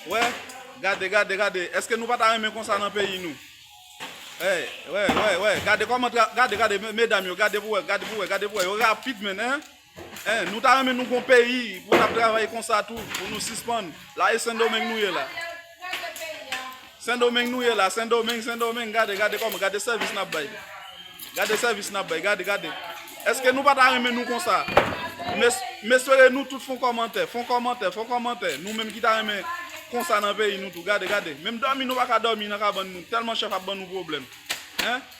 Wè, gade, gade, gade, eske nou pa ta renmen konsa nan peyi nou? Hey, wè, wè, wè, gade kòman tra... Gade, gade, medam yo, gade pou wè, gade pou wè, gade pou wè, yo rapid menn, hein? Hein, nou ta renmen nou gon peyi pou n ap travay konsa tou, pou nou sispann. La e Sendomeng nou ye la. Sendomeng nou ye la sendomeng sendomeng gade gade kòman gade sèvis nap bay gade sèvis nap bay gade gade eske nou pata renmen nou konsa mes mespere nou tout fon kòmantè fon kòmantè fon kòmantè nou menm ki ta renmen konsa nan peyi nou tou gade gade menm dòmi nou paka dòmi nan kabann nou tèlman chèf ap ban nou pwoblèm hein.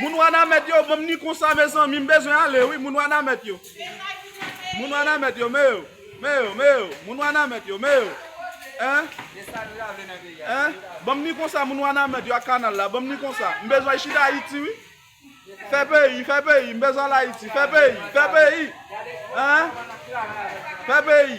Moun wanamèt yo banm ni konsa mezanmi m bezwen ale wi moun wanamèt yo moun wanamèt yo me yo me yo me yo moun wanamèt yo me yo hein hein banm ni konsa moun wanamèt yo ak kanal la banm ni konsa m bezwen chita ayiti wi fè peyi fè peyi m bezwen al ayiti fè peyi fè peyi hein fè peyi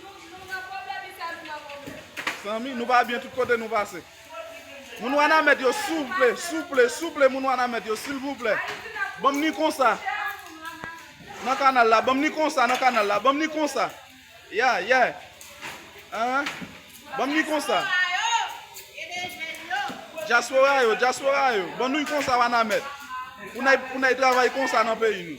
Nou nan pwoblèm ital nou nan pwoblèm. Zanmi nou pa byen tout kote nou pase. Moun wanamèt yo souple souple souple moun wanamèt yo silvouplè banm ni konsa nan kanal la banm ni konsa nan kanal la banm ni konsa ya yè eeh banm ni konsa dyaspora yo dyaspora yo ban nou y konsa wanamèt pou n ay travay konsa nan peyi nou.